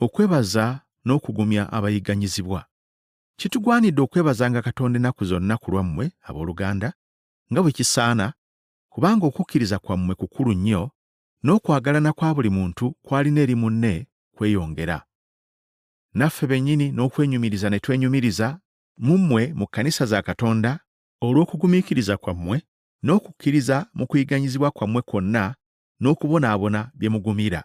okwebaza n'okugumya abayigganyizibwa. Kitugwanidde okwebazanga Katonda ennaku zonna ku lwammwe, abooluganda, nga bwe kisaana, kubanga okukkiriza kwammwe kukulu nnyo, n'okwagalana kwa buli muntu kw'alina eri munne kweyongera. Naffe bennyini n'okwenyumiriza ne twenyumiriza mu mmwe mu kkanisa za Katonda olw'okugumiikiriza kwammwe n'okukkiriza mu kuyiganyizibwa kwammwe kwonna n'okubonaabona bye mugumira.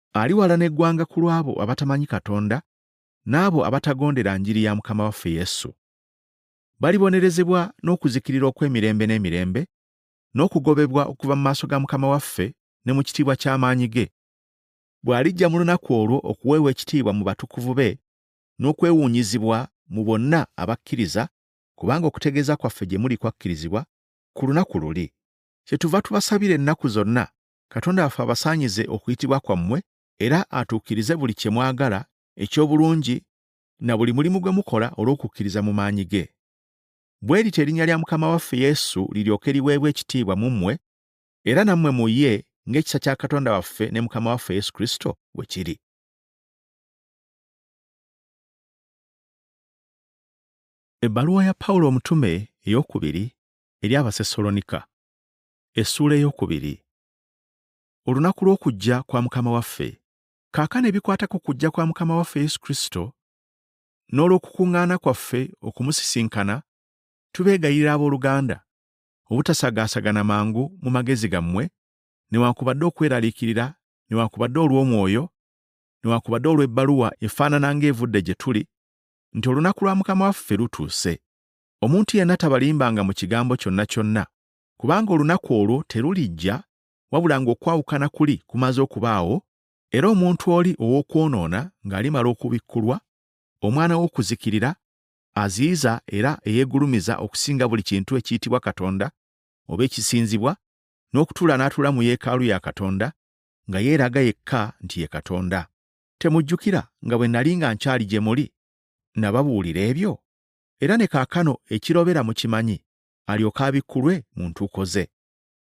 aliwalana eggwanga ku lw'abo abatamanyi Katonda n'abo abatagondera njiri ya Mukama waffe Yesu. Balibonerezebwa n'okuzikirira okw'emirembe n'emirembe, n'okugobebwa okuva mu maaso ga Mukama waffe ne mu kitiibwa ky'amaanyi ge, bw'alijja mu lunaku olwo okuweebwa ekitiibwa mu batukuvu be n'okwewuunyizibwa mu bonna abakkiriza, kubanga okutegeeza kwaffe gye muli kwakkirizibwa ku lunaku luli. Kyetuva tubasabira ennaku zonna Katonda waffe abasaanyize okuyitibwa kwammwe era atuukirize buli kye mwagala eky'obulungi na buli mulimu gwe mukola olw'okukkiriza mu maanyi ge. Bwe lityo erinnya lya Mukama waffe Yesu liryoke liweebwe ekitiibwa mu mmwe era nammwe mu ye ng'ekisa kya Katonda waffe ne Mukama waffe Yesu Kristo bwe kiri. Ebbaluwa ya Pawulo omutume ey'okubiri eri Abasesolonika. essuula ey'okubiri olunaku lw'okujja kwa mukama waffe kaakano ebikwata ku kujja kwa mukama waffe yesu kristo n'olw'okukuŋŋaana kwaffe okumusisinkana tubeegayirira ab'oluganda obutasagaasagana mangu mu magezi gammwe newankubadde okweraliikirira newankubadde olw'omwoyo newankubadde olw'ebbaluwa efaanana ng'evudde gye tuli nti olunaku lwa mukama waffe lutuuse omuntu yenna tabalimbanga mu kigambo kyonna kyonna kubanga olunaku olwo terulijja wabula ng'okwawukana kuli kumaze okubaawo era omuntu oli ow'okwonoona ng'alimala okubikkulwa omwana w'okuzikirira aziyiza era eyeegulumiza okusinga buli kintu ekiyitibwa katonda oba ekisinzibwa n'okutuula n'atuula mu yeekaalu ya katonda nga yeeraga yekka nti ye katonda temujjukira nga bwe nali nga nkyali gye muli nababuulira ebyo era ne kaakano ekirobera mukimanyi alyoke abikkulwe mu ntuuko ze.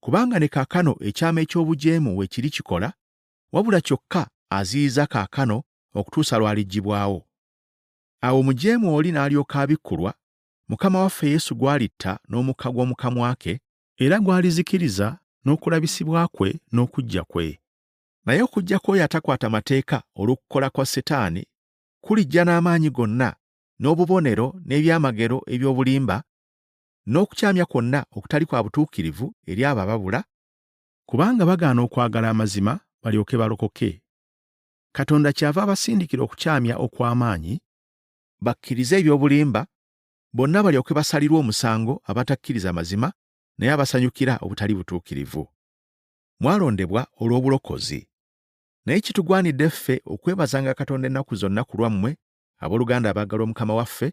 Kubanga ne kaakano ekyama eky'obujeemu we kiri kikola, wabula kyokka aziyiza kaakano okutuusa lw'aliggibwawo. Awo omujeemu oli n'alyoka abikkulwa, Mukama waffe Yesu gw'alitta n'omukka gw'omu kamwa ke, era gw'alizikiriza n'okulabisibwa kwe n'okujja kwe. Naye okujja kw'oyo atakwata mateeka olw'okukola kwa Setaani kulijja n'amaanyi gonna n'obubonero n'ebyamagero eby'obulimba n'okukyamya kwonna okutali kwa butuukirivu eri abo ababula, kubanga bagaana okwagala amazima balyoke balokoke, Katonda kyava abasindikira okukyamya okw'amaanyi, bakkirize eby'obulimba, bonna balyoke basalirwe omusango abatakkiriza mazima naye abasanyukira obutali butuukirivu. Mwalondebwa olw'obulokozi. Naye kitugwanidde ffe okwebazanga Katonda ennaku zonna ku lwammwe, abooluganda abaagalwa Mukama waffe,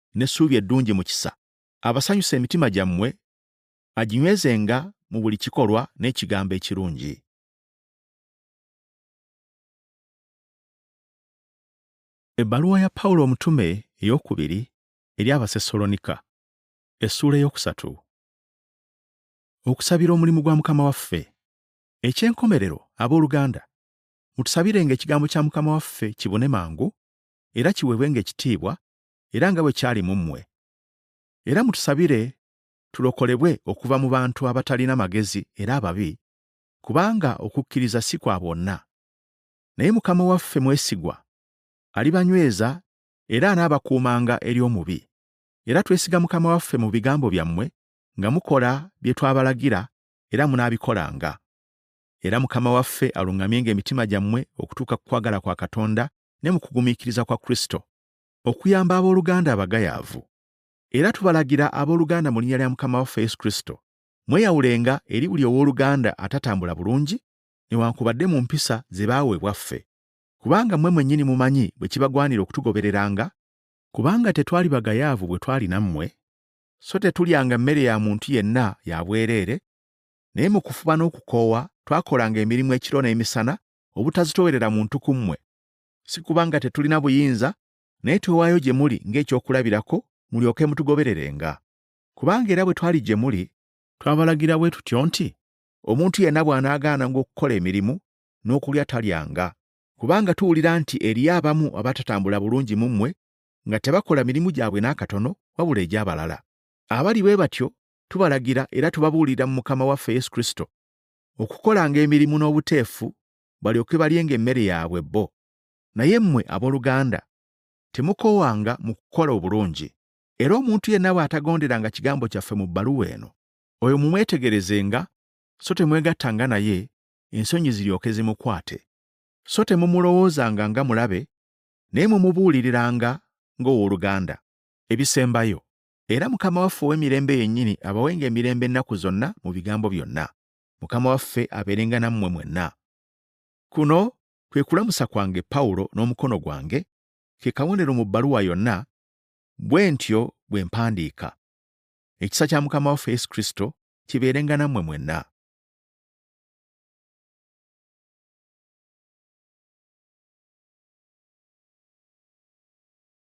n'essuubi eddungi mu kisa, abasanyusa emitima gyammwe, aginywezenga mu buli kikolwa n'ekigambo ekirungi. Ebbaluwa ya Pawulo omutume ey'okubiri eri Abasesalonika, essuula ey'okusatu. Okusabira omulimu gwa Mukama waffe. Eky'enkomerero, ab'oluganda, mutusabirenga ekigambo kya Mukama waffe kibune mangu, era kiweebwenga ekitiibwa era nga bwe kyali mu mmwe. Era mutusabire tulokolebwe okuva mu bantu abatalina magezi era ababi, kubanga okukkiriza si kwa bonna. Naye Mukama waffe mwesigwa, alibanyweza era anaabakuumanga eri omubi. Era twesiga Mukama waffe mu bigambo byammwe nga mukola bye twabalagira era munaabikolanga. Era Mukama waffe aluŋŋamyenga emitima gyammwe okutuuka ku kwagala kwa Katonda ne mu kugumiikiriza kwa Kristo. okuyamba ab'oluganda abagayaavu. Era tubalagira ab'oluganda mu linnya lya Mukama waffe Yesu Kristo, mweyawulenga eri buli ow'oluganda atatambula bulungi, newankubadde mu mpisa ze baaweebwa ffe, kubanga mmwe mwennyini mumanyi bwe kibagwanira okutugobereranga, kubanga tetwali bagayaavu bwe twali nammwe, so tetulyanga mmere ya muntu yenna ya bwereere, naye mu kufuba n'okukoowa twakolanga emirimu ekiro n'emisana obutazitoowerera muntu ku mmwe, si kubanga tetulina buyinza naye twewaayo gye muli ng'ekyokulabirako mulyoke mutugobererenga kubanga era bwe twali gye muli twabalagira bwe tutyo nti omuntu yenna bw'anaagaananga okukola emirimu n'okulya talyanga kubanga tuwulira nti eriyo abamu abatatambula bulungi mu mmwe nga tebakola mirimu gyabwe n'akatono wabula egy'abalala abali bwe batyo tubalagira era tubabuulira mu mukama waffe yesu kristo okukolanga emirimu n'obuteefu balyoke balyenga emmere yaabwe bo naye mmwe abooluganda temukoowanga mu kukola obulungi era omuntu yenna bw'atagonderanga kigambo kyaffe mu bbaluwa eno oyo mumwetegerezenga so temwegattanga naye ensonyi ziryoke zimukwate so temumulowoozanga nga mulabe naye mumubuuliriranga ng'ow'oluganda ebisembayo era mukama waffe ow'emirembe yennyini abawenga emirembe ennaku zonna mu bigambo byonna mukama waffe abeerenga nammwe mwenna kuno kwe kulamusa kwange pawulo n'omukono gwange ke kabonero mu bbaluwa yonna bwe ntyo bwe mpandiika ekisa kya mukama waffe yesu kristo kibeerenga nammwe mwenna